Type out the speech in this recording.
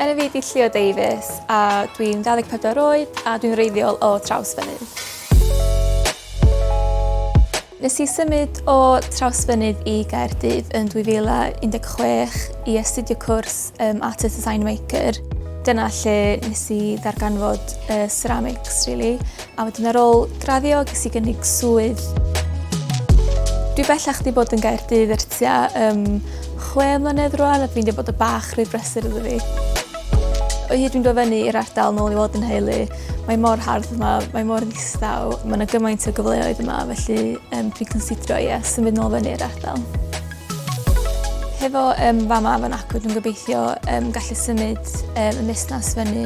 Enw fi ydi Llio Davies a dwi'n 24 oed a dwi'n reiddiol o traws fynydd. Nes i symud o Trawsfynydd i Gaerdydd yn 2016 i astudio cwrs um, Art as Design Maker. Dyna lle nes i ddarganfod uh, ceramics, really. A wedyn ar ôl graddio ges i gynnig swydd. Dwi bellach wedi bod yn Gaerdydd er tua um, chwe mlynedd rwan a dwi'n dweud bod y bach rhy brysur iddo fi. O hyd dwi'n dod fyny i'r ardal nôl i weld yn heulu, mae mor hardd yma, mae mor ddistaw, mae yna gymaint o gyfleoedd yma, felly um, dwi'n considro, ie, yeah, symud nôl fyny i'r ardal. Hefo um, fama fan acw, dwi'n gobeithio um, gallu symud um, y busnes fyny